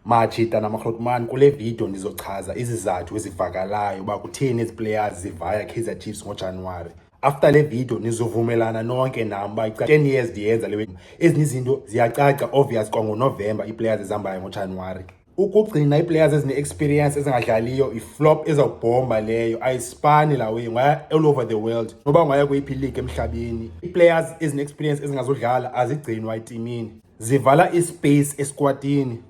Machita namakrotman kule video ndizochaza izizathu ezivakalayo uba kutheni ezi players zivaya Kaizer Chiefs ngoJanuwari. After le video nizovumelana nonke nam uba 10 years ndiyenza le ezinye izinto ziyacaca obvious kwangonovemba ii-players ezihambayo ngoJanuwari. ukugcina ii-players ezine-experience ezingadlaliyo yiflop ezawubhomba leyo ayisipani lawe ngaya all over the world noba ngaya kweyiphi league emhlabeni ii-players ezine-experience ezingazodlala azigcinwa etimini zivala ispace esikwatini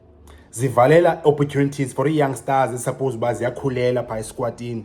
zivalela opportunities for ii-young stars ezisuppose uba ziyakhulela phaa esikwatini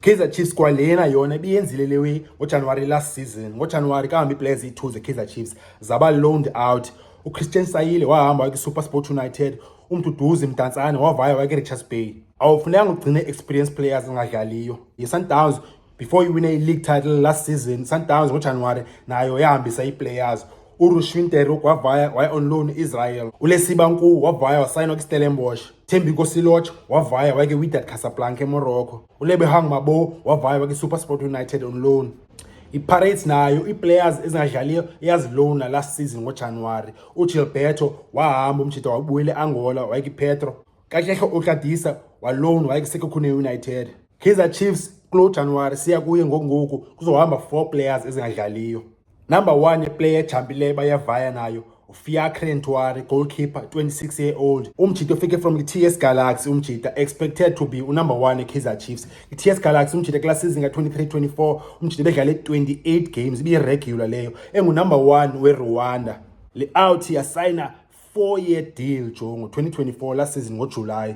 Kaizer Chiefs kwalena yona ibiyenzile le way ngoJanuwari last season ngoJanuwari kahambi iplayers iyi-two zekaizer Chiefs zaba loaned out uchristian sayile wahamba wayekusuper sport united umduduzi mdantsane wavaya wayekerichas bay awufunekanga ugcine experience players engadlaliyo yesundowns before iwine i-league title last season sundowns ngojanuwari nayo yahambisa ii-players urushwinter wavaya waya on loan israel ulesiba nkuu wavaya wasayinwa kwistellenbosh Thembi Kosiloch wavaya wake Wydad Casablanca eMorocco. ULebehang Mabo wavaya wake SuperSport United on loan. IPirates nayo iiplayers ezingadlaliyo iyazilona last season ngoJanuwari. UGilberto wahamba umjita wabuyela eAngola wake iPetro. Katlehlo Okladisa walona wake iSekhukhune United. Kaizer Chiefs kulo Januwari siya kuye ngokungoku kuzohamba four players ezingadlaliyo. Number one yeplayer ejhambileyo bayavaya nayo uFiacre Ntwari goalkeeper 26 year old umjita ofike from i-TS Galaxy umjita expected to be unumber 1 eKaizer Chiefs i-TS Galaxy umjita kula season ka-23-24 umjita bedlale 28 games ibiyiregular leyo engunumber 1 werwanda le out yasayina 4 year deal jo ngo-2024 last season ngojulayi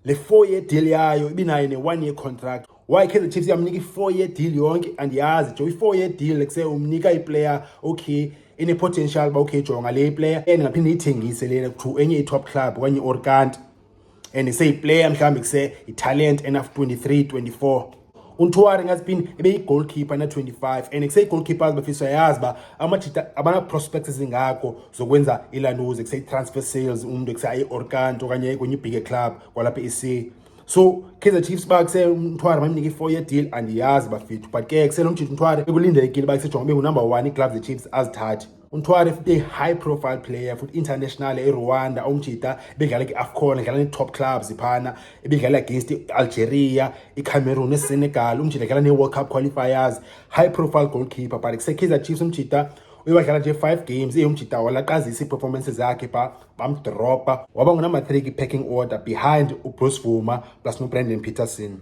le four year deal yayo ibinayo ne-one year contract why kaizer chiefs yamnika i-four year deal yonke andiyazi jo i-four year deal like se umnika iplayer okay ine-potential uba okay jonga le iplayer and ngaphinde iyithengise lena to enye i-top club okanye iorkant and seyiplayer mhlawumbi kuse italent enaf 23 24 untwari ngathi phini ebeyi-goalkeeper na-25 and kuseyi-goalkeepers bafisa uyayazi uba amajita abana-prospects ezingako zokwenza ilanuze kuseyi-transfer sales umntu kuse ayi-orkant okanye kwenye ibhige club kwalapha e-c so kaizer chiefs uba kuse umthware mamnike i-four year deal andiyazi bafethu but ke kusenomjita umthware ekulindelekile uba kusejonga ube ngunumber one iigloves zechiefs azithathi untwari futhi i-high profile player futhi international erwanda umjita ebedlala kwi-afcon edlala nee-top clubs phana ebedlala against i-algeria icameroon nesenegal umjita edlala nee-world cup qualifiers high profile goalkeeper but kusekaizer chiefs umjita uye wadlala nje five games eyomjita walaqazisa ii-performance zakhe pha bamdropa waba ngunumber three kwi-packing order behind ubruce vuma plus nobrandon peterson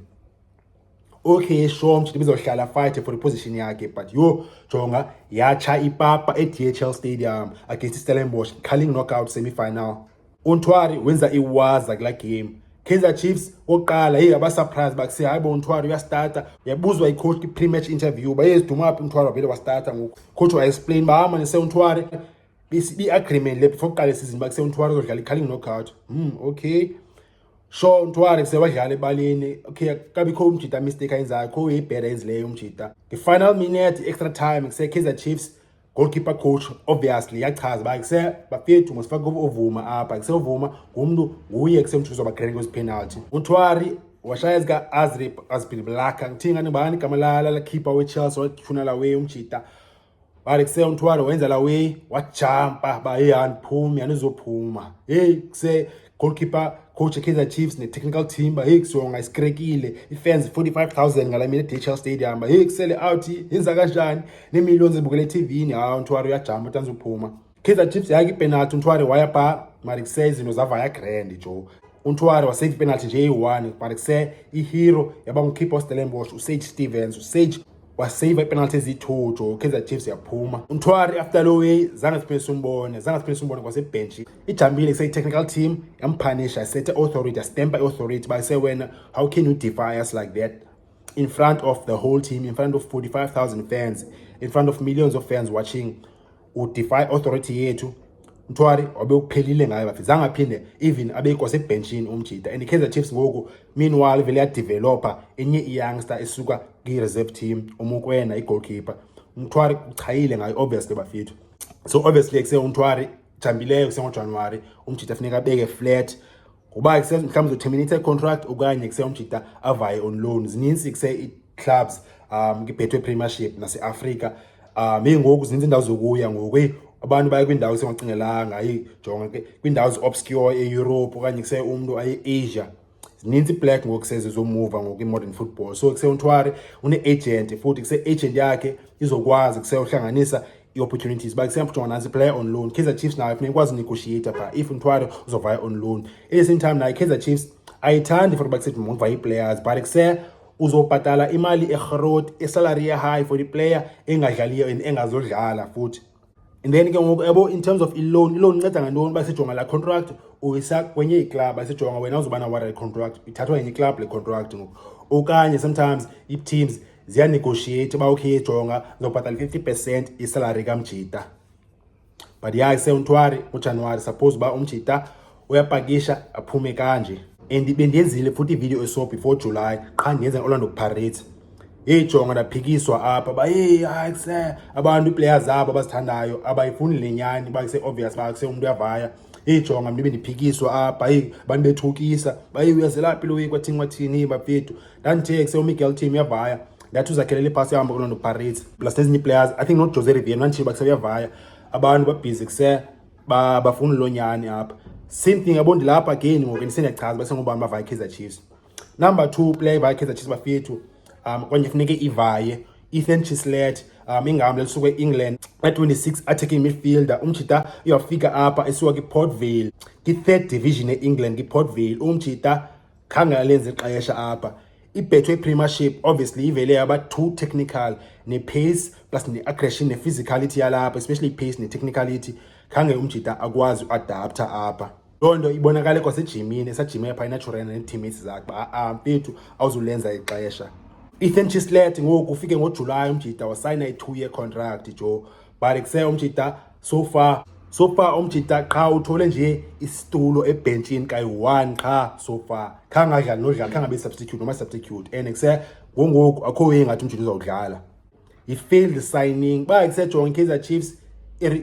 okay sure mtsho ndizohlala fight for iposition yakhe but yho jonga yatsha ipapa edhl stadium against istellenbosch calling knockout semifinal untwari wenza iwaza kula game kaizer chiefs oqala yeyi abasurprise bakuse hayi bo untwari uyastarta yabuzwa icoach kwi-pre-match interview bayeziduma phi untwari wavele wastarta ngoku coach waexplain uba hama nise untwari bi-agreement le before kuqala isizini bakuse untwari uzodlala i-calling knockout um hmm, okay sho untwari sewadlala ebaleni okay kabikho umjita mistake ayenzayo kho uyibheda yenzileyo umjita nge-final minute i-extra time kuse-kaizer chiefs goalkeeper coach obviously yachaza uba kuse bafethu masifake ovuma apha kuse ovuma ngumntu nguye kusemtshuzo bagrene kwezi penalty untwari washaya zika azrip azbin blaka ngithinga nibani igama lala lakhipha wechelsea wathunala we umjita Bale kuse uNthwalo wenza la way wajumpa ba hey andiphumi anizophuma. Hey kuse goalkeeper coach Kaizer Chiefs ne technical team ba hey kusonga isikrekile ifans 45000 ngala mina DHL Stadium ba hey kusele out yenza kanjani ne millions ebukele TV ni ha uNthwalo uyajumpa tanzophuma. Kaizer Chiefs yake ipenalty untware waya pa marikse izinto zava ya grand jo untware wasave ipenalty nje eyi-one marikse ihero yaba ngukhipha ostellenbosh usage stevens usage wasave ipenalty eziyi-two jo kaizer chiefs yaphuma untware after lo way zange siphinde simbone zange siphinde simbone kwasebhentshi ijambile kuseyi-technical team yamphanisha isethe authority yastempa i-authority uba isewena how can you defy us like that in front of the whole team in front of 45000 fans in front of millions of fans watching udefy authority yethu mthwari wabe uphelile ngayo bafi zange aphinde even abekwa sebhenshini umjita and i-kaizer chiefs ngoku meanwhile vele yadevelopa enye iyoungster esuka kwi-reserve team umukwena i-goalkeeper umthwari uchayile ngayo obviously bafethu so obviously kuse umthwari jambileyo kusengojanuwari umjita funeka abeke flat ngoba kuse mhlawumbi uzoterminate i-contract okanye kuse umjita avaye on loan zininzi kuse i-clubs um kibhethwe premiership naseafrika um eyi ngoku zininzi iindawo zokuya ngoku eyi abantu baye kwiindawo esingacingelanga ayi jonga ke kwiindawo zi-obscure eeurope okanye kuse umntu aye-asia zininzi iblack ngoku seze zomuva ngoku i-modern football so kuse untwari une-agent futhi kuse-agent yakhe izokwazi kuse uhlanganisa i-opportunities uba kusemntu kuthiwa nansi player on loan kaizer chiefs nayo funeka ikwazi unegotiate phaa if mthwalo uzovaya on loan in the same time nayo kaizer chiefs ayithandi for uba kusethi mundivaya ii-players but kuse uzobhatala imali erhoroti isalary ye-high for iplayer engadlaliyo and engazodlala futhi and then ke ngoku yabo in terms of iloan iloan inceda ngantoni uba sijonga laa contract uyisa kwenye iklabhu asijonga wena uzoba na-warrant contract ithathwa yenye iklabhu le contract ngoku okanye sometimes ii-teams ziyanegotiate uba ukhe yejonga zobhatala i-fifty percent isalary kamjita but ya isewuntwari ujanuwari suppose uba umjita uyapakisha aphume kanje and bendiyenzile futhi ividiyo eso before july qha ndiyenza orlando pirates yeyi jonga ndaphikiswa apha ba yeyi hayi kuse abantu iiplayer zabo abazithandayo abayifuni le nyani uba kuse-obvious uba kuse umntu uyavaya yeyi jonga mntu bendiphikiswa apha yeyi abantu bethukisa ba yeyi uyazelaphi lo yeyi kwathini kwathini bafethu ndandithe kusewumiguel team uyavaya ndathi uzakhelele iphasi ehamba kulo noparis plus nezinye iplayers i think not jose rivier ndanditshile bakuse uyavaya abantu babhizi kuse bafuna loo nyani apha same thing yabo ndilapha again ngoku ndisendiyachaza basengobani bavaya ikaizer chiefs number two player ivaya ikaizer chiefs bafethu um kwanye funeke ivaye ethan chislet um ingahambi lisuke e-england a-26 attacking midfielder umjita uyafika apha esuka kwi-portvale kwi-third division e-england kwi-portvale umjita khange alenze ixesha apha ibhethwe ipremieship obviously ivele yaba two technical nepace plus ne-aggression nephysicality yalapha especially ipace netechnicality khange umjita akwazi uadaptha apha loo nto ibonakale kwasejimini esajime pha inaturena nee-teammates zakhe uba a-a mfethu awuzulenza ixesha ethan chislet ngoku ufike ngojulayi umjita wasayina i-two year contract jo but kuse umjita sofa sofa omjita qha uthole nje isitulo ebhentshini kayi-one qha sofa khange adlali nodlala khange abe substitute noma substitute and kuse ngongoku akho ye ngathi umjita uzawudlala yi-failed signing ba kusejonga ikaizer chiefs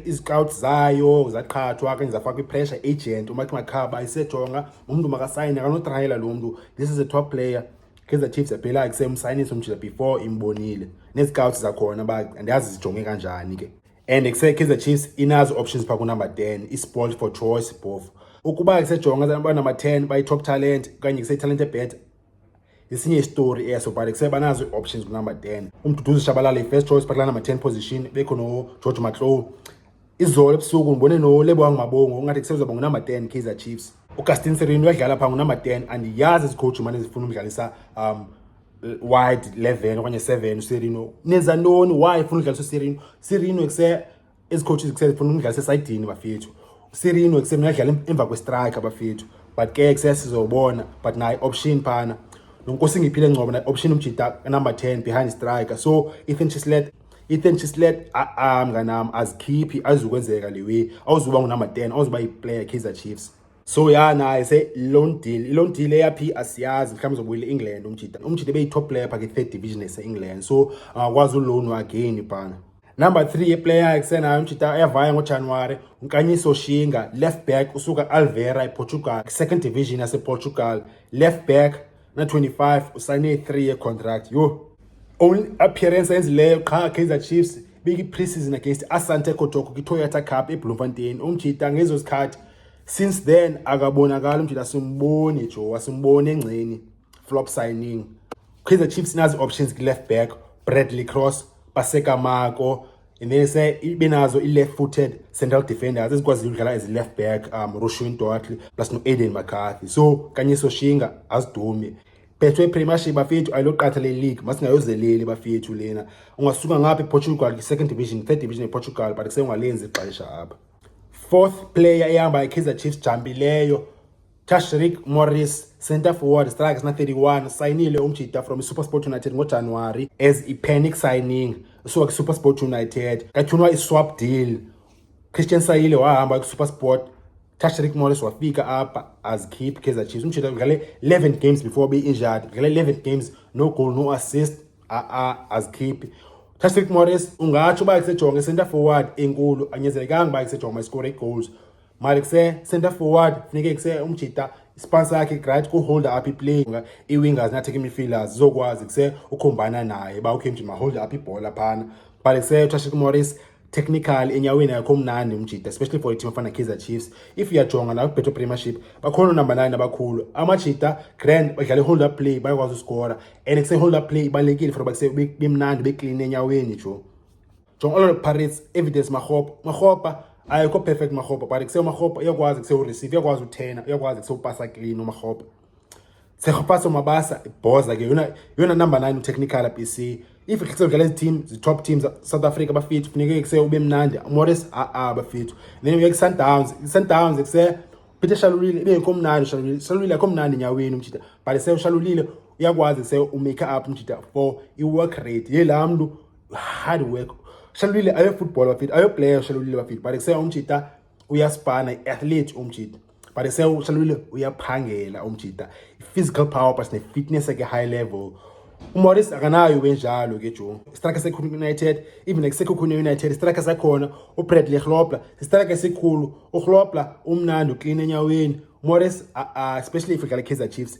izicowut zayo zaqhathwa kanye zafakwa ipressure agent umathi makhaba isejonga umntu makasayine akanotrayela lo mntu this is a top player kaizer chiefs yaphela kusemsayinisa umjita before imbonile nezicowut zakhona ba andiyazi zijonge kanjani ke and kusekhiza chiefs inazo options phaa kunumber 10 isport for choice bofu ukuba kusejonga banumber 10 bayi-top talent okanye kuseyi-talent ebeta yesinye isitori eso but kuse banazo ii-options kunumber 10 umduduzi shabalala i-first choice bakula number 10 position bekho nogeorge maclow izolo ebusuku ndibone nolebo wangumabongo ungathi kusezoba ngunumber 10 kaizer chiefs ugastin serino uyadlala phaa ngunumber 10 andiyazi izicoach mane zifuna umdlalisa um wide 11 okanye 7 uSirino nenza ntoni why funa udlalisa uSirino Sirino ekuse ezicoaches ekuse funa umdlalisa esayidini bafethu uSirino ekuse mina dlala emva kwestriker bafethu but ke ekuse sizobona but naye option phana nonkosi ngiphile ngcobo naye option umjita number 10 behind striker so Ethan Chislet Ethan Chislet a mnganami azikhiphi azukwenzeka lewe awuzuba ngunumber 10 awuzuba iplayer Kaizer Chiefs so ya naye se loan deal i-loan deal eyaphi asiyazi mhlawumbi uzobuyela e-england umjita umjita ebeyi-top player pha ke-third division ese-england so angakwazi ulownu again ibhana number three yeplayer esenayo umjita ayavaya ngojanuwari unkanyiso shinga left back usuka alvera eportugal second division yaseportugal left back na-25 usayine i-3 yecontract yho only appearance ayenzileyo qha kaizer chiefs beyi-preseason against asante kotoko kitoyata cup ebloemfontein umjita ngezo zikhathi since then akabonakali umjita simboni jowa simboni engceni flop signing kaizer chiefs inazi-options kwi-left back bradley cross basekamako and then se ibe nazo i-left footed central defenders ezikwaziyo ukudlala as i-left back um roshwin doatley plus no-aiden mccarthy so kanye soshinga azidume phethwe premiership bafethu ayiloqatha le league masingayozeleli bafethu lena ungasuka ngapha eportugal kwi-second division third division eportugal but kusengalenzi ixesha apha fourth player ehamba ikaizer chiefs jambileyo Tashrik Morris center forward strikes na 31 sayinile umjita from iSuperSport United ngoJanuwari as i-panic signing usuka kwiSuperSport United kathunwa i-swap deal Christian Sayile wahamba kwiSuperSport Tashrik Morris wafika apha as keep Kaizer Chiefs umjita udlale 11 games before be injured udlale 11 games no goal no assist a ah, a ah, as keep Tashrik Morris ungatsho uba isejonge center forward enkulu anyezelekanga uba isejonge ma-score goals mali kuse center forward funeke kuse umjita ispansa yakhe right kuholde up iplay i-wingers natheke imifielders zizokwazi kuse ukhombana naye uba ukhe mjima holde up ibhola phana but kuse utrashik morris technical enyaweni yakho mnandi umjita especially for iteam efana kaizer chiefs if uyajonga nawe kubhetho premiership bakhona unumber nine abakhulu amajita grand badlala i-hold up play bayakwazi uskora and kuse-hold up play ibalulekile for uba kuse bemnandi bekline enyaweni jo jonga olo pirates evidence marhopa marhopa ayikho perfect marhopa but kuseyomarhopa iyakwazi kusewureceive iyakwazi uthena iyakwazi kusewupasa clean umarhopa Tshegofatso Mabasa ibhoza ke yona yona number 9 utechnical BC if ikhethe udlala iziteam zitop teams South Africa bafithu funeke kuse ube mnandi Morris a a bafithu then uye kuSundowns iSundowns kuse Peter Shalulile ibe yinko mnandi Shalulile Shalulile akho mnandi nyaweni umjita but se ushalulile uyakwazi se umake up umjita for iwork rate yela mntu hard work shalulile ayo football bafethu ayo player shalulile bafethu but kuseka umjita uyaspana i-athlete umjita but kuseka shalulile uyaphangela umjita i-physical power plus ne-fitness eke high level umoris akanayo benjalo ke jo istraka sekhulu united even like sekhukhune united istraka sakhona ubradley hlobla sistraka esikhulu uhlobla umnandi uklina enyaweni umoris especially if udlala kaizer chiefs